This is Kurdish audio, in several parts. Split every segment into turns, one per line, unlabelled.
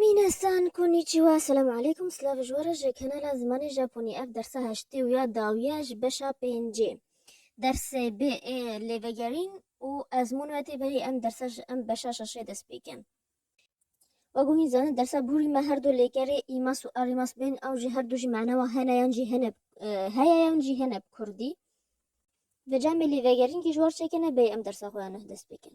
Minasan konnichiwa selam aleykum slav ji were ji kanala zimanê Japonî ev dersa heştê û ya dawiya ji beşa pêncê dersê bê ê lê vegerîn û ez mûn ve tê berî em dersa ji em beşa şeşê dest pê kin. We guhîn zanîn dersa bûrî me her du lêkerê îmas û arîmas bên ew jî her du jî mana wan hene yan jî hene heye yan jî hene bi kurdî. Vê camê lê vegerîn kî ji war çekene bêyî em dersa xwe ya neh dest pê kin.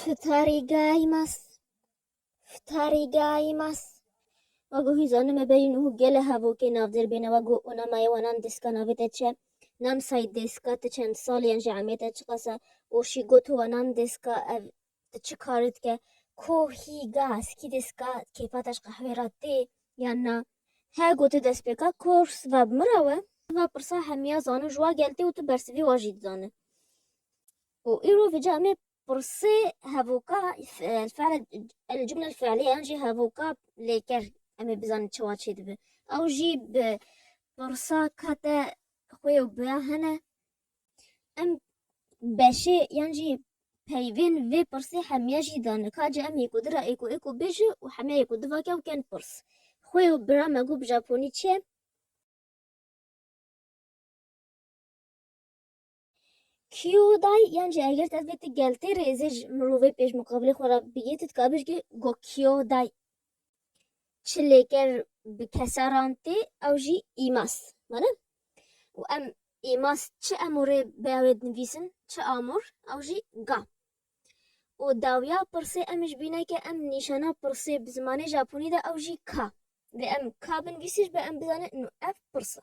Fitarî gaymas, fitarî gaymas. Ma gohî zanime berî nuh gele hevokê navdêr bêne wa goh ona mayewanan dêska navê te çi ye? Nam say dêska ti çend salî ye ji emê te çiqas e û şî got û wanan dêska ev ti çi karî dike? Kohî gas, kî dêska kêfa te ji qehwê re tê yan na? He gote destpêka kor siva bi min re we? Siva pirsa hemiya zanin ji wa gel tê û tu bersivî wa jî dizane. Ku îro vîca me pirsê hevoka f'el el cumle el fe'lî yan jî hevoka lêker em ê bizanin çawa çê dibe. Ew jî bi pirsa ka te xwê û bi ya hene em beşê yan jî peyvên vê pirsê hemiya jî dane. Ka ca em yêko dira êko êko bêje û hemiya yêko divake û ken pirs. Xwê û bira me got bi japonî çi ye? Kîyo day yan jî eger tu ev bê tu geltê rêzê ji mirovê pêş muqabilê xwe re bigê tu dikar bêjî go kîyo day çi lêker bi kesaran tê ew jî îmas mane û em îmas çi emorê beyawê dinivîsin çi amor ew jî ga û dawiya pirsê em ji bîne ke em nîşana pirsê bi zimanê japonî de ew jî ka vê em ka binivîsî ji be em bizane nu ev pirsa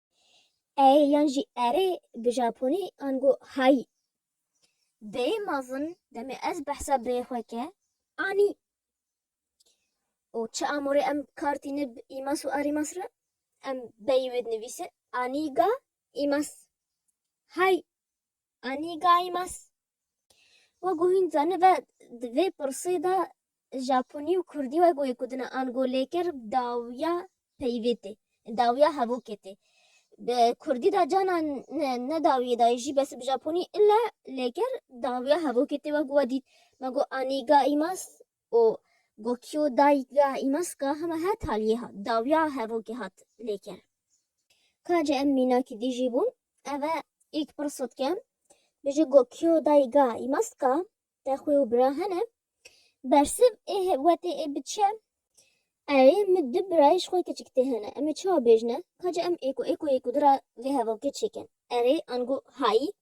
Ey yan jî erê bi japonî ango hayî. Dêyê mezin demê ez behsa birê xwe ke anî û çi amorê em kar tîne bi îmas û arîmas re em beyî wê dinivîsin anî ga îmas hay. Annie Gaimas. Wek ku hîn zanibe di vê pirsê de Japonî û Kurdî wek wê ku dina ango lêker dawiya peyvê tê, dawiya hevokê tê. Bi Kurdî de cana ne dawiyê dayê jî bes bi Japonî île lêker dawiya hevokê tê wek ku we dît me got Annie Gaimas û Gokyo dayîk ya Imaska hema her taliyê hat, dawiya hevokê hat lêkirin. Ka jî em mînakî dijî bûn, ev e îlk pirso dike, Bijî Gokyo dayîk ya Imaska te xwê û bira hene? Bersiv ê wetê ê biçe, Erê min du birayê ji xwe kiçik tê hene, em ê çawa bêjine? Ka jî em êko êkoyê ku dira vê hevokê çêkin, erê ango hayî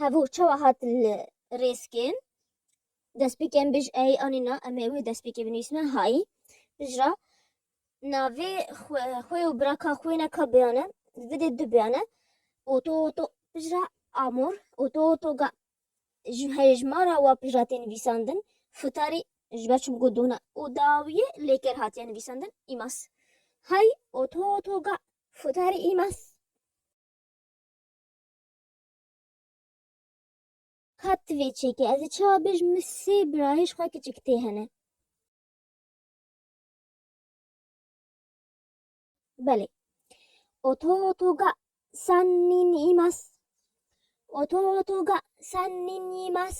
Hevû çawa hatin li rêzkên destpêkên bij ey anîna em ê wê destpêkê binivîsîne hay bij ra navê xwe xwe û biraka xwe ne ka biyane vidê du biyane oto oto bij ra amor oto oto ga ji herê ji ma ra wa pij ra tê nivîsandin futarî ji ber çimko dona û dawiyê lêker hatiye nivîsandin îmas hay oto oto ga futarî îmas. Ka tu vê çêkê ez ê çawa bêjim min sê birayê ji xwe kiçik tê hene. Belê. Oto oto ga san nin imas. Oto oto ga san nin imas.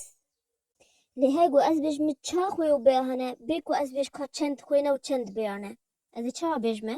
Lê hey ku ez bêjim min ça xwe û bê hene bê ku ez bêj ka çend xwe ne û çend bê hene. Ez ê çawa bêjim e?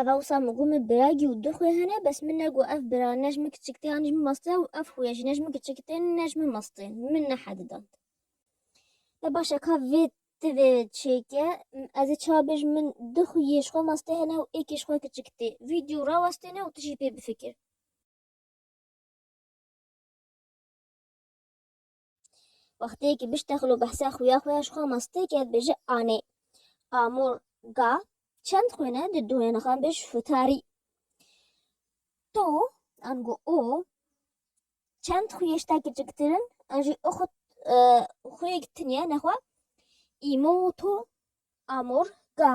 Ev hewsa min got min biragî û du xwe hene bes min negot ev bira ne ji min kiçik tê an ne ji min mast tê û ev xuya jî ne ji min kiçik tê ne ji min mast tê min nehedidand. E baş e ka vê ti vê çêke ez ê çawa bêjim min du xuyê ji xwe mast tê hene û êkê ji xwe kiçik tê vîdeo rawestêne û tu jî pê bifikir. Wextê ki biştexil û behsa xuya xwe ya ji xwe mastê ke dibêje anê. Amûr ga çend xwêne di dûnê nixan bê ji futarî. To ango o çend xuyê ji te kiçiktir in an jî o xwe xuyê gitinîye nexwe îmo to amûr ga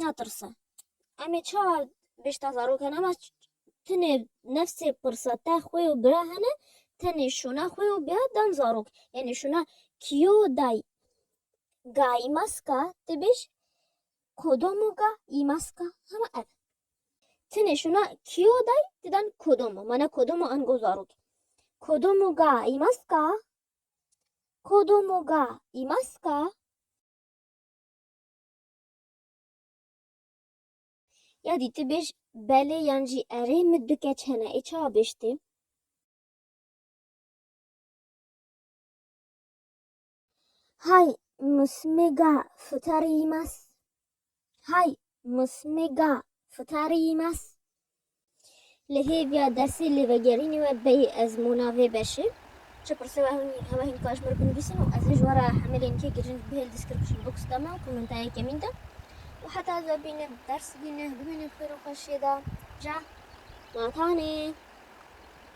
natirse. Em ê çawa bêşta zarokan ema tenê nefsê pirsa te xwe û bira hene tenê şûna xwe û bira dan zarok. Yanî şûna kîyo day gayî maska te bêj kodomo ga yî maska hema ev. Tenê şûna kîyo day te dan kodomo mana kodomo ango zarok. Kodomo ga yî maska kodomo ga yî maska Ya dî tu bêj belê yan jî erê min du keç hene ê çawa bêj tê? Hay musmêga fitarî mas. Hay musmêga fitarî mas. Li hêviya dersê lê vegerînê we beyê ez mûna vê beşê. Çi pirse we hûn hewa hîn dikar ji min re binivîsin û ez ê ji we re hemelên kê girîng bi hêl description box de me û komenta yekemîn de û heta ez we bînim ders bîne bimînim xêr û xweşiyê de ja. Matanê.